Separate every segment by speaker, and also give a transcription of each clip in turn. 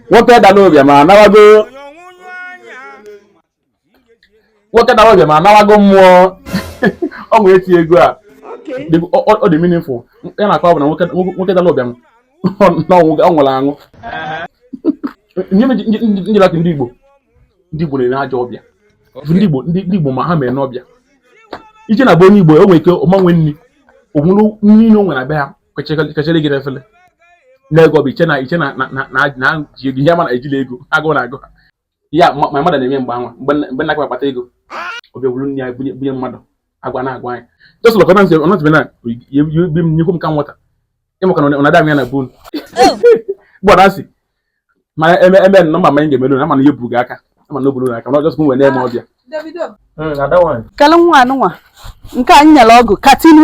Speaker 1: nwoke dara ụbịam anawago nwoke dara ụbịam anawago mmụọ o nwete ego a ọ dị meaningful ihe a na-akọ bụ na nwoke dara ụbịam na ọ nwụrụ anwụ njelaki ndị Igbo ndị Igbo na-ere ajọ ọbịa ndị Igbo ndị Igbo ma ha mee n'ọbịa i jee na be onye Igbo o nwere ike ọ ma-enwe nri o nwere nri na o nwere abịa ya kachara gị efele na-ego bụ iche na iche na na ji ego ihe mana ejila ego agụụ na-agụ ya ma mmadụ na-eme mgbe anwa mgbe na-akpata ego ọ bịa buru nri ya bunye mmadụ agwa na agwa anyị just lọkọta nsị ọ nọtụbe na bi m nyekwu m ka nwata ịmaka na ọ na-ada m ya na bon gbọdọ asị mana eme eme nọ ma anyị ga-emelu na mana ihe buru gị aka ama na o buru aka na ọjọsọ m wee na-eme ọbịa hmm,
Speaker 2: kele nwa anụnwa nke anyị nyere ọgụ katinu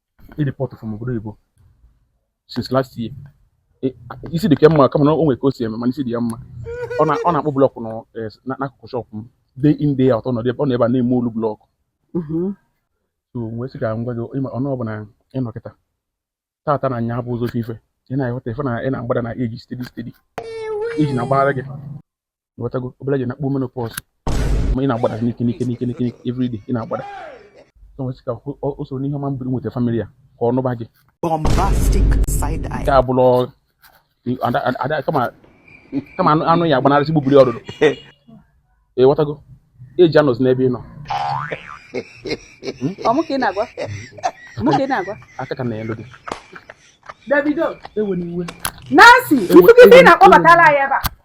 Speaker 1: e deport from obodo oyibo since last year e, isi dị ka mma kama na o nwere ka o si eme mana isi dị ya mma ọ na-akpụ blọkụ e, n'akụkụ shọpụ m day in day out ọ nọ ebe a na-eme ọlụ blọkụ mm-hmm. so wee sị ka m gwa gị ọ bụrụ na ị nọ kịta tata na nya bụ ụzọ ife ị na-ahụta ife na ị na-agbada na age steady steady age na-agbara gị nwetago obere ji na-akpọ menopause ma ị na-agbada n'ike n'ike n'ike n'ike every day ị na-agbada m wee sị ka o soro n'ihu ọma m biri nweta family ya ka ọ nụba gị nke a bụrụ kama anụ ya-agbanarị sị gbubiri ọdụdụ ị ghọtago eji anọzi n'ebe ị nọ aka ka na elu gị Davido
Speaker 3: ewena
Speaker 1: iwe Nancy, ifu
Speaker 3: gị na-akpọbatala ya ebe a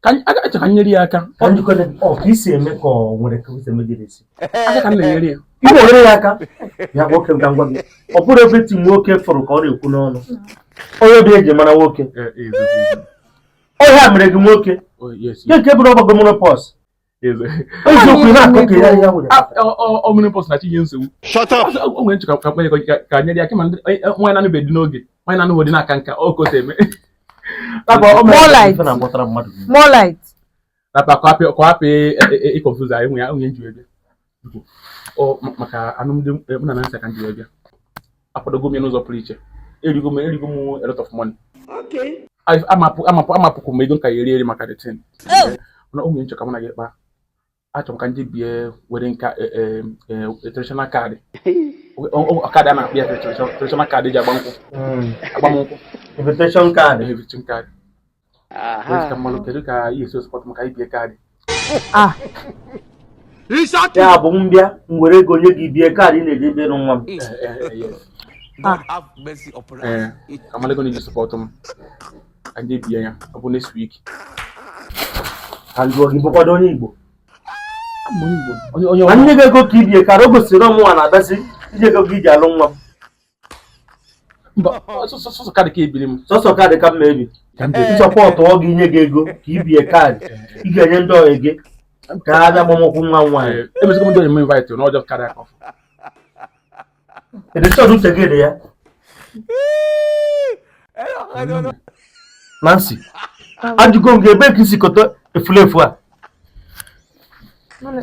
Speaker 2: ka m- aka achọ ka m nyere ya
Speaker 1: aka Ka m jikọta gị. Ọ,
Speaker 4: ka i si eme ka o nwere ka i si eme gị n'isi. aka ka m na-enyere ya
Speaker 1: Ị na-enyere ya
Speaker 4: aka. Nwoke m ka m gwa gị. Ọ bụrụ ebe ti nwoke fụrụ ka ọ na-ekwu n'ọnụ. Onye obi e ji mara nwoke. Ọ ya mere gị nwoke. Oh, yes, Gị nke bụrụ ọ bago menopause. Shut up! Ọ menopause
Speaker 1: na-enye nsogbu. O nwere nchekwa ka kwenye ka nyere ya kema nwaanyị na-anụbe di n'oge nwaanyị na-anụhụ di na-aka nka o kote eme. More
Speaker 2: light. More light. Na pa kwa
Speaker 1: pe kwa pe e confuse anyị nwe ya nwe m ji wee bi. maka alụmdi eh, mụ na Nancy ka m ji bịa akwadogo m ya n'ụzọ pụrụ iche o rigo m o rigo m a lot of money amapụkwu m ego nke ọ ya-eri eri maka the thing na o nwere m chọ ka mụ na gị kpaa achọrọ m ka ndị bie were nka eh, eh, traditional card ọ ka a na-akpọ ya traditional card e ji agba nkwụ hmm. agbamnkwụ invitation
Speaker 4: card invitation card
Speaker 1: Aha. ka m malụ kedu ka ihe esi sọpọtụ m ka e bie
Speaker 4: kaadị Ah, ya bụ m bịa m were ego nye gị bie kaadị ị na-eji ebe nwa m God have
Speaker 1: mercy upon us. ee ka m malụ ego na-eji sọpọtụ m ka m ji bie ya ọ bụ next
Speaker 4: week ka m jụọ gị ị bụkwa onye Igbo onye onye
Speaker 1: ma nye gị ego ka i bie kaadị
Speaker 4: o gosiri na ọ mụnwa na-abịazi i ji ego gị i ji alụ nwa m
Speaker 1: mba sọsọ sọsọ kaadị ka ebiri m sọsọ kaadị ka m ma
Speaker 4: ebi ka m ji Eh. sọpọtụọ gị nye gị ego ka i bie kaadị ị ga-enye ndị ọyị gị ka ha bịa gbaa nkwụ nwa m nwaanyị Eh, emezikwa m ndị onyinye invite
Speaker 1: na ọjọọ karịa ka ọfụ
Speaker 4: edechọd uche gị dị ya Nancy ajụgo m gị ebe ka i si kọta efulefu a Mana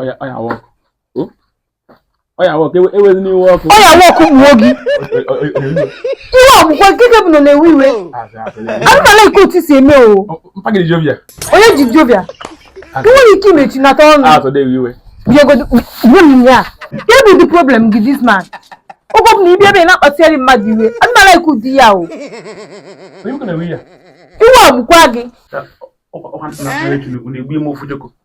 Speaker 1: ọya ọya iwe ọkụ hmm? ọya iwe ọkụ ewezina iwe ọkụ ọya iwe ọkụ gbuo
Speaker 3: gị iwe egbukwa nkeke bụ na na-ewe iwe anaghị m alike otu i si eme o
Speaker 1: onye dị
Speaker 3: jovial i nwere ike imechinata
Speaker 1: ọnụ
Speaker 3: ya kee bụ the problem gị this man oge ọbụla ị bịa ebe a na-akpatara mmadụ iwe anaghị m alike ụdị ya o
Speaker 1: iwe egbukwa
Speaker 3: gị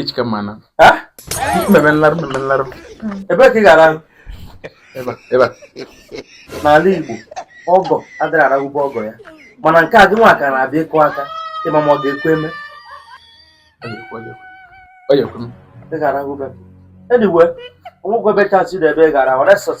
Speaker 4: Echika
Speaker 1: eh, mana m
Speaker 4: ma-eme nlarụ m
Speaker 1: ma-eme nlarụ
Speaker 4: ebee ka ị ga-arahụ ebe a n'ala Igbo ọgọ adịghị arahụ be ọgọ ya mana nke a gị nwa ka na-abịa ịkụ aka ịma ma ọ ga-ekwe
Speaker 1: eme ị ga-arahụ
Speaker 4: ebe a anyway o nwekwa ebe chasị na ebe ị ga-arahụ resọt